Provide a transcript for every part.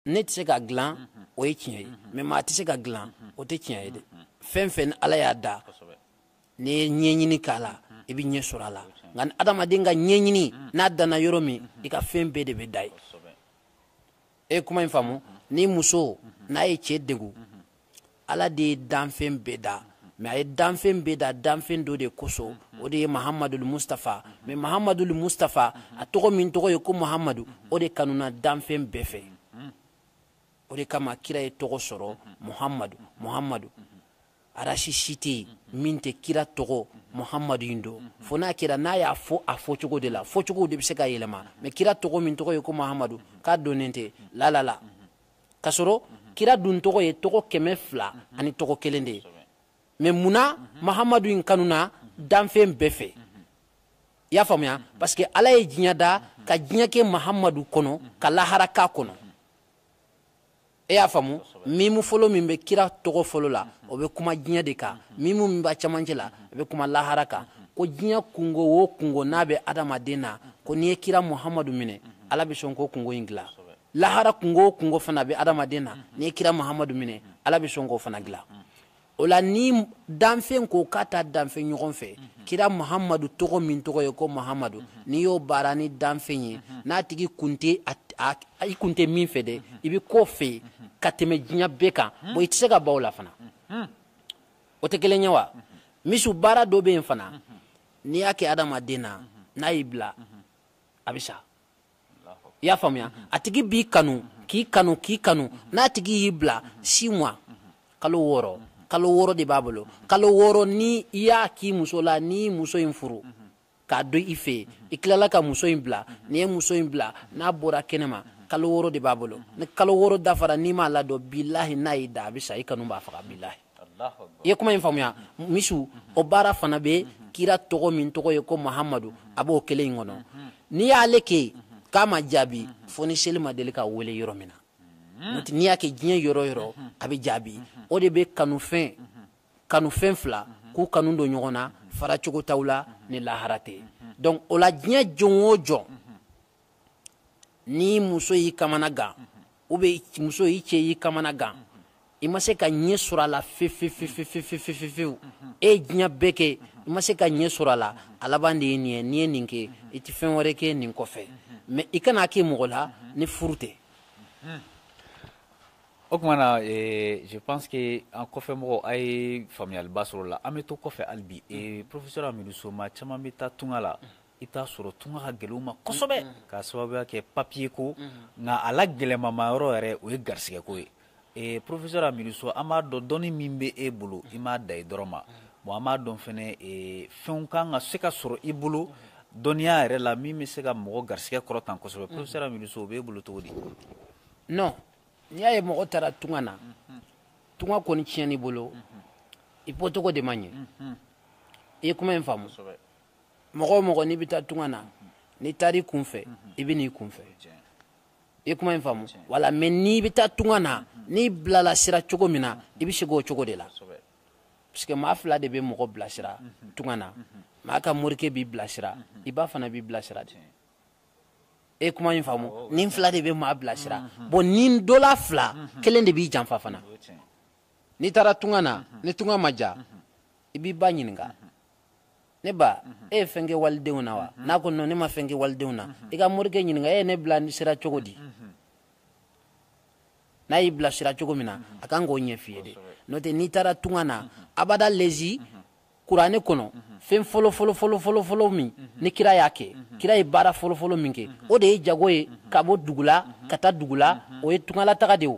ne tɛ se ka dilan o ye tiɲɛ ye mais maa tɛ se ka dilan o tɛ tiɲɛ ye dɛ fɛn fɛn ni ala y'a da n'i ye ɲɛɲini k'a la i bɛ ɲɛ sɔrɔ a la nka ni adamaden ka ɲɛɲini n'a danna yɔrɔ min i ka fɛn bɛɛ de bɛ dan yen e ye kuma in faamu ni muso n'a ye cɛ degun ala de ye danfɛn bɛɛ da mais a ye danfɛn bɛɛ da danfɛn dɔ de kosɔn o de ye mahamadul mustafa mais mahamadul mustafa a tɔgɔ min tɔgɔ ye ko mahamadu o de kanuna danfɛn bɛɛ fɛ o de kama kira ye tɔgɔ sɔrɔ muhamadu muhamadu arasi si tɛ yen min tɛ kira tɔgɔ muhamadu in dɔn fo n'a kɛra n'a y'a fɔ a fɔcogo de la fɔcogo de bɛ se ka yɛlɛma mais kira tɔgɔ min tɔgɔ ye ko mahamadu k'a dɔnnen tɛ lalala k'a sɔrɔ kira dun tɔgɔ ye tɔgɔ kɛmɛ fila ani tɔgɔ kelen de ye mais munna mahamadu in kanuna danfɛn bɛɛ fɛ i y'a faamuya parce que ala ye diɲɛ da ka diɲɛ kɛ mahamadu kɔnɔ ka lahara k'a kɔnɔ e y'a faamu mimu fɔlɔ min bɛ kira tɔgɔ fɔlɔ la o bɛ kuma diɲɛ de kan mimu min b'a cɛmancɛ la a bɛ kuma lahara kan ko diɲɛ kungo o kungo n'a bɛ adamaden na ko n'i ye kira muhamadu minɛ ala bɛ sɔn k'o kungo in dilan lahara kungo o kungo fana bɛ adamaden na n'i ye kira muhamadu minɛ ala bɛ sɔn k'o fana dilan o la ni danfɛn ko k'a ta danfɛn ɲɔgɔn fɛ kira muhamadu tɔgɔ min tɔgɔ ye ko muhamadu n'i y'o baara ni danfɛn ye n'a tigi kun tɛ i kun tɛ min fɛ dɛ i bɛ k'o fɛ ka tɛmɛ diɲɛ bɛɛ kan bon i tɛ se ka ban o la fana o tɛ kelen ye wa monsieur baara dɔ bɛ yen fana n'i y'a kɛ adamaden na n'a y'i bila a bɛ sa i y'a faamuya a tigi b'i kanu k'i kanu k'i kanu n'a tigi y'i bila six mois kalo wɔɔrɔ kalo wɔɔrɔ de b'a bolo kalo wɔɔrɔ ni i y'a k'i muso la n'i muso in furu k'a don i fɛ i tilala ka muso in bila n'i ye muso in bila n'a bɔra kɛnɛma kalo wɔɔrɔ de b'a bolo ni kalo wɔɔrɔ dafara n'i m'a ladon bilahi n'a y'i da a bɛ sa i kanu b'a faga bilahi i ye kuma in faamuya monsieur o baara fana bɛ kira tɔgɔ min tɔgɔ ye ko mahamadu a b'o kelen in kɔnɔ n'i y'ale kɛ k'a ma jaabi fo ni seli ma deli ka wele yɔrɔ min na n'i y'a kɛ diɲɛ yɔrɔ yɔrɔ a bɛ jaabi o de bɛ kanufɛn kanufɛn fila k'u kanu don ɲɔgɔn na fara cogo t'aw la ni lahara tɛ donc o la diɲɛ jɔn o jɔn ni muso y'i kamana gan ou bien muso y'i cɛ y'i kamana gan i ma se ka ɲɛ sɔrɔ a la fewu e ye diɲɛ bɛɛ kɛ i ma se ka ɲɛ sɔrɔ a la a laban de ye nin ye n'i ye nin kɛ i tɛ fɛn wɛrɛ kɛ nin kɔfɛ mais i kan'a kɛ mɔgɔ la ni furu tɛ o tuma na eh, je pense que an kɔfɛ mɔgɔ a ye faamuyaliba sɔrɔ la an bɛ to kɔfɛ hali bi eh, professeur amidu soma caman bɛ taa tunga la i t'a sɔrɔ tunga ka gɛlɛn u ma kosɛbɛ mm, mm. ka sababuya kɛ papiye ko mm-hmm. nka a la gɛlɛnmama yɔrɔ yɛrɛ o ye garisɛgɛko ye ee porofesɛr amidu so an b'a dɔn dɔnni min bɛ e bolo i m'a da i dɔrɔn ma mm-hmm. bon an b'a dɔn fana e, fɛnw kan ka se ka sɔrɔ i bolo mm-hmm. dɔnniya yɛrɛ la min bɛ se ka mɔgɔ garisɛgɛ kɔrɔta kosɛbɛ porofesɛr amidu so o b'e bolo cogo di non n'i y'a ye mɔgɔ taara tunga na tunga kɔni tiɲɛn'i bolo i bɔcogo de ma ɲɛ i ye kuma in faamu mɔgɔ o mɔgɔ n'i bɛ taa tunga na n'i taar'i kunfɛ i bɛ n'i kunfɛ i ye kuma in faamu voilà mais n'i bɛ taa tunga na n'i bilala sira cogo min na i bɛ segin o cogo de la parce que maa fila de bɛ mɔgɔ bilasira tunga na maa ka morikɛ b'i bilasira i ba fana b'i bilasira de e kuma in faamu nin fila de bɛ maa bilasira bon nin dɔ la fila kelen de b'i janfa fana n'i taara tunga na ni tunga ma ja i b'i ba ɲininka ne ba mhm. e ye fɛn kɛ walidenw na wa mhm. n'a ko non ne ma fɛn kɛ walidenw na mhm. i ka morikɛ ɲininka e ye ne bila sira cogo di n'a y'i bila sira cogo min na a kan k'o ɲɛf'i ye de n'o tɛ n'i taara tunga na abada lezi kuranɛ kɔnɔ fɛn fɔlɔ fɔlɔ min ni kira y'a kɛ kira ye baara fɔlɔ fɔlɔ min kɛ o de ye jago ye ka bɔ dugu la ka taa dugu la o ye tungalataga de ye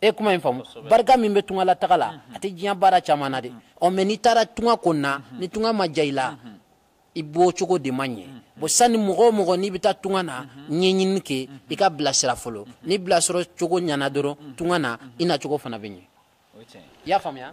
e kuma in faamu barika min bɛ tungalataga la a tɛ diɲɛ baara caman na de ɔ mais n'i taara tunga kɔnɔna ni tunga ma ja i la i bɔcogo de ma ɲɛ bon sani mɔgɔ o mɔgɔ n'i bɛ taa tunga na ɲɛɲini kɛ i ka bilasira fɔlɔ ni bilasira cogo ɲana dɔrɔn tunga na i na cogo fana bɛ ɲɛ i y'a faamuya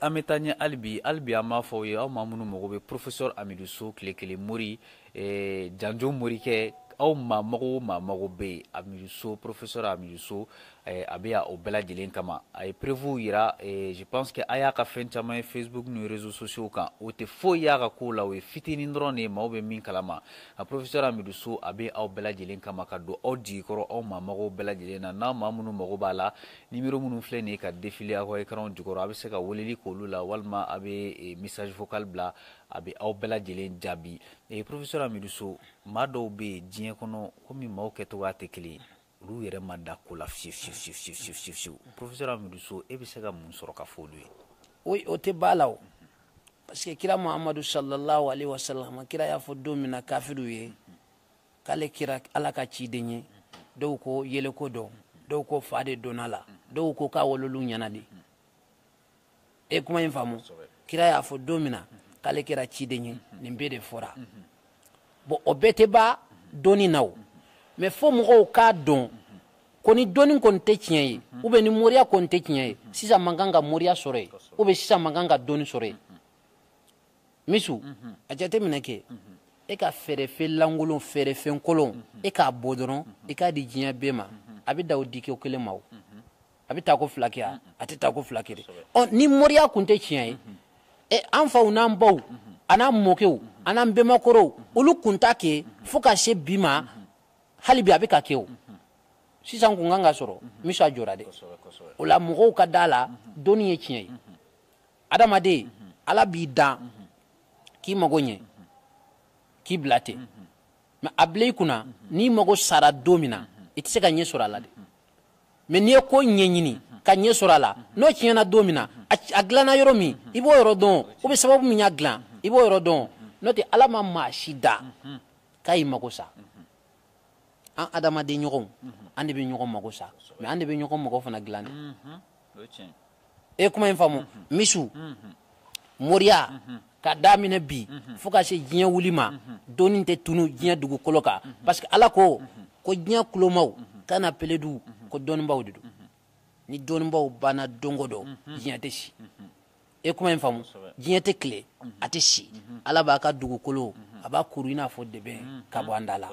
an bɛ taa ɲɛ hali bi hali bi an b'a fɔ aw ye aw maa minnu mago bɛ porofesɔr amidu so tile kelen mori janjo morikɛ aw maa mago maa mago bɛ yen amidu so porofesɔr amidu so a bɛ o bɛɛ lajɛlen kama a ye preuve jira je pense que a y'a ka fɛn caman ye facebook ni réseaux sociaux kan o tɛ foyi y'a ka ko la o ye fitinin dɔrɔn de ye maaw bɛ min kalama a porofesɛr amidu so a bɛ aw bɛɛ lajɛlen kama ka don aw jigi kɔrɔ aw maa mago bɛɛ lajɛlen na n'a maa minnu mago b'a la Numéro minnu filɛ nin ye ka défiler aw ka écranw jukɔrɔ a bɛ se ka weleli k'olu la walima a bɛ message vocal bila a bɛ aw bɛɛ lajɛlen jaabi e porofesɛr amidu so maa dɔw bɛ yen diɲɛ kɔnɔ komi maaw kɛcogo tɛ kelen olu yɛrɛ ma da ko la fiyewu porofesɛr amidu so e bɛ se ka mun sɔrɔ ka fɔ olu ye o o tɛ b'a la parce que kira muhamadu sallallahu alaihi wa sallam kira y'a fɔ don min na kafiriw ye k'ale kɛra ala ka ciden ye dɔw ko yɛlɛko don dɔw ko fa de donn'a la dɔw ko k'a wololu ɲɛna de e kuma in faamu kira y'a fɔ don min na k'ale kɛra ciden ye nin bɛɛ de fɔra bon o bɛɛ tɛ ban dɔnni na o mais fo mɔgɔw k'a dɔn ko ni dɔnni kɔni tɛ tiɲɛ ye ou bien ni moriya kɔni tɛ tiɲɛ ye sisan man kan ka moriya sɔrɔ yen ou bien sisan man kan ka dɔnni sɔrɔ yen misu a jateminɛ kɛ e ka feerefɛn lankolon feerefɛn kolon e k'a bɔ dɔrɔn i k'a di diɲɛ bɛɛ ma a bɛ da o di kɛ kelen ma o a bɛ taa ko fila kɛ wa a tɛ taa ko fila kɛ ɔ ni moriya tun tɛ tiɲɛ ye ɛ an faw n'an baw an n'an mɔkɛw a n'an bɛnbakɔrɔw olu kun t'a kɛ fo ka se bi ma hali bi a bɛ ka kɛ o sisan kun kan ka sɔrɔ misu a jɔra dɛ o la mɔgɔw ka da la dɔnni ye tiɲɛ ye adamaden ala b'i dan k'i mago ɲɛ k'i bila ten mais a bila i kunna n'i mago sara don min na i tɛ se ka ɲɛ sɔrɔ a la dɛ mais n'i ye ko ɲɛɲini ka ɲɛ sɔrɔ a la n'o tiɲɛna don min na a dilanna yɔrɔ min i b'o yɔrɔ dɔn ou bien sababu min y'a dilan i b'o yɔrɔ dɔn n'o tɛ ala ma maa si da k'a y'i mago sa an adamaden ɲɔgɔnw an de bɛ ɲɔgɔn mago sa mais an de bɛ ɲɔgɔn mago fana dilan dɛ e kuma in faamu misu moriya ka daminɛ bi fo ka se diɲɛ wuli ma dɔnni tɛ tunu diɲɛ dugukolo kan parce que ala ko ko diɲɛ kulomaw kana peledu ko dɔnnibaw de don ni dɔnnibaw banna don o don diɲɛ tɛ si e kuma in faamu diɲɛ tɛ tile a tɛ si ala b'a ka dugukolo a b'a kuru i n'a fɔ dɛbɛn ka bɔ an da la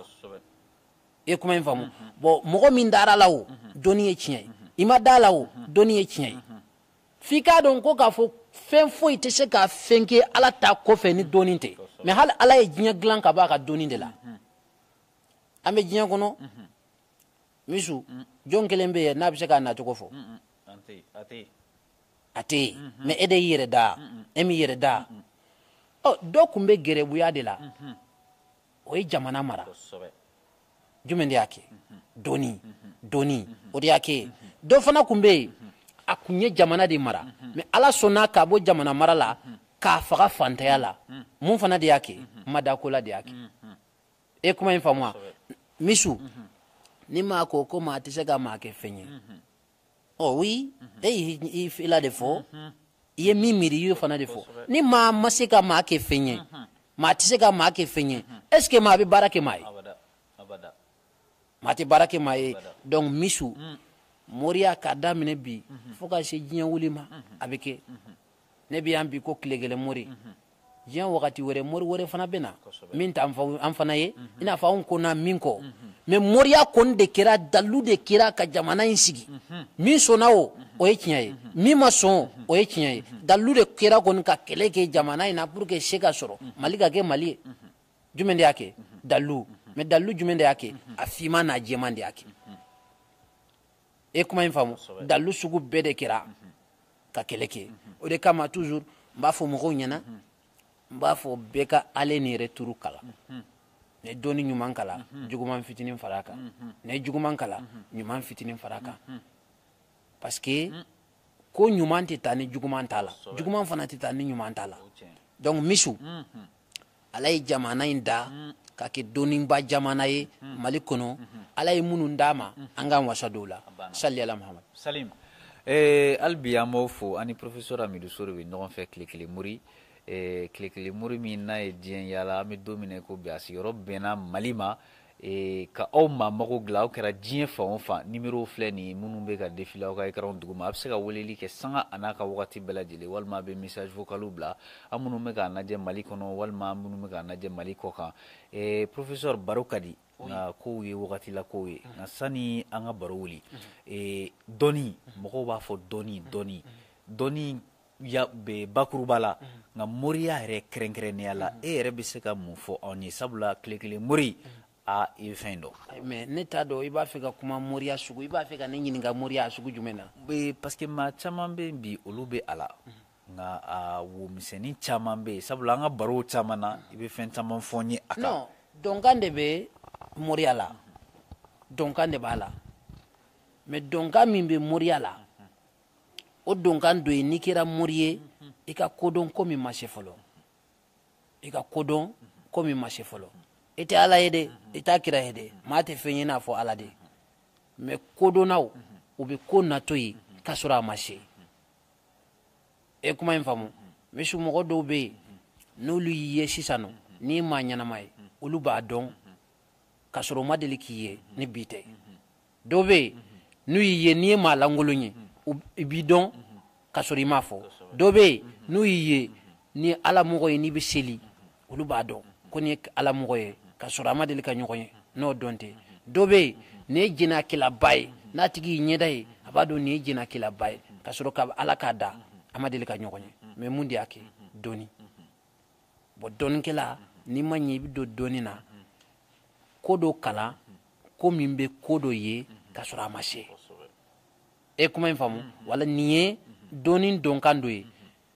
e kuma in faamu bon mɔgɔ min dara la o dɔnni ye tiɲɛ ye i ma da la o dɔnni ye tiɲɛ ye f'i k'a dɔn ko k'a fɔ fɛn foyi tɛ se ka fɛn kɛ ala ta kɔfɛ ni dɔnni tɛ mais hali ala ye diɲɛ dilan ka bɔ a ka dɔnni de la an bɛ diɲɛ kɔnɔ misu jɔn kelen bɛ yen n'a bɛ se k'a nacogo fɔ a tɛ yen mais e de y'i yɛrɛ da e m'i yɛrɛ da ɔ dɔ tun bɛ gɛrɛbuya de la o ye jamana mara jumɛn de y'a kɛ dɔnni dɔnni o de y'a kɛ dɔ fana tun bɛ yen a tun ye jamana de mara mais ala sɔnna k'a bɔ jamana mara la k'a faga fantanya la mun fana de y'a kɛ n ma da ko la de y'a kɛ e kuma in faamu wa misu ni maa ko ko maa tɛ se ka maa kɛ fɛn ye oui e y'i fɛla de fɔ i ye min miiri i y'o fana de fɔ ni maa ma se ka maa kɛ fɛn ye maa tɛ se ka maa kɛ fɛn ye est-ce que maa bɛ baara kɛ maa ye maa tɛ baara kɛ maa ye donc misu moriya k'a daminɛ bi fo ka se diɲɛ wuli ma a bɛ kɛ ne bɛ yan bi ko tile kelen mori diɲɛ wagati wɛrɛ mori wɛrɛ fana bɛ na min t'an fana ye i n'a fɔ anw ko na min kɔ mais moriya kɔni de kɛra dalu de kɛra ka jamana in sigi min sɔnna o o ye tiɲɛ ye min ma sɔn o ye tiɲɛ ye dalu de kɛra kɔni ka kɛlɛ kɛ jamana in na pour que se ka sɔrɔ mali ka kɛ mali ye jumɛn de y'a kɛ dalu mais dalu jumɛn de y'a kɛ a finman n'a jɛman de y'a kɛ e kuma in faamu dalilu sugu bɛɛ de kɛra ka kɛlɛ kɛ o de kama toujours n b'a fɔ mɔgɔw ɲɛna n b'a fɔ bɛɛ ka ale ni yɛrɛ turu kala ne dɔnni ɲuman kalan juguman fitinin fara kan ne juguman kalan ɲuman fitinin fara kan parce que ko ɲuman tɛ taa ni juguman t'a la juguman fana tɛ taa ni ɲuman t'a la donc monsieur ala ye jamana in da ka kɛ dɔnniba jamana ye mali kɔnɔ ala ye minnu d'an ma an k'an wasa don u la sali ala mahamadu salim eh, hali bi an b'aw fo an ni professeur amidu so de bɛ ɲɔgɔn fɛ tile kelen mori eh, tile kelen mori min n'a ye diɲɛ yaala an bɛ don min na i ko bi a sigiyɔrɔ bɛnna mali ma Ee ka aw maa mago dilan aw kɛra diɲɛ fan o fan numéro filɛ nin minnu bɛ ka défiler aw ka écran duguma a bɛ se ka weleli kɛ sanga a n'a ka waati bɛɛ lajɛlen walima a bɛ message vocal bila an minnu bɛ k'an lajɛ mali kɔnɔ walima minnu bɛ k'an lajɛ mali kɔ kan ee professeur baro ka di nka kow ye wagati la kow ye nka sani an ka baro wuli ee dɔnni mɔgɔw b'a fɔ dɔnni dɔnni dɔn ya bɛɛ bakuruba la nka moriya yɛrɛ kɛrɛnkɛrɛnnenya la e yɛrɛ bɛ se ka mun fɔ anw ye sabula tile kelen mori a i bɛ fɛn dɔn mais ne t'a dɔn i b'a fɛ ka kuma moriya sugu i b'a fɛ ka ne ɲininka moriya sugu jumɛn na bɛ parce que maa caman bɛ bi olu bɛ a la nka a womisɛnnin caman bɛ yen sabula an ka barow caman na i bɛ fɛn caman fɔ n ye a kan dɔnkan de bɛ moriya la dɔnkan de b'a la mais dɔnkan min bɛ moriya la o dɔnkan dɔ ye n'i kɛra mori ye i ka ko dɔn ko min ma se fɔlɔ i ka ko dɔn ko min ma se fɔlɔ i tɛ ala ye dɛ i t'a kira ye dɛ maa tɛ fɛn ye n'a fɔ ala de mais kodɔnnaw u bɛ ko natɔ ye k'a sɔrɔ a ma se e kuma in faamu monsieur mɔgɔ dɔw bɛ yen n'olu y'i ye sisan nɔ n'i ye maa ɲɛnama ye olu b'a dɔn k'a sɔrɔ u ma deli k'i ye ni bi tɛ dɔw bɛ yen n'u y'i ye n'i ye maa lankolon ye i b'i dɔn k'a sɔrɔ i m'a fɔ dɔw bɛ yen n'u y'i ye n'i ye alamɔgɔ ye n'i bɛ seli olu b'a dɔn ko nin ye alamɔgɔ ye k'a sɔrɔ a ma deli ka ɲɔgɔn ye n'o don tɛ dɔ bɛ yen n'i ye jɛnɛyakɛlaba ye n'a tigi y'i ɲɛda ye a b'a dɔn nin ye jɛnɛyakɛlaba ye k'a sɔrɔ ka ala k'a da a ma deli ka ɲɔgɔn ye mais mun de y'a kɛ dɔnni bon dɔnnikɛla n'i ma ɲɛ i bɛ don dɔnni na ko dɔ kalan ko min bɛ ko dɔ ye k'a sɔrɔ a ma se e kuma in faamu voilà nin ye dɔnni dɔnkan dɔ ye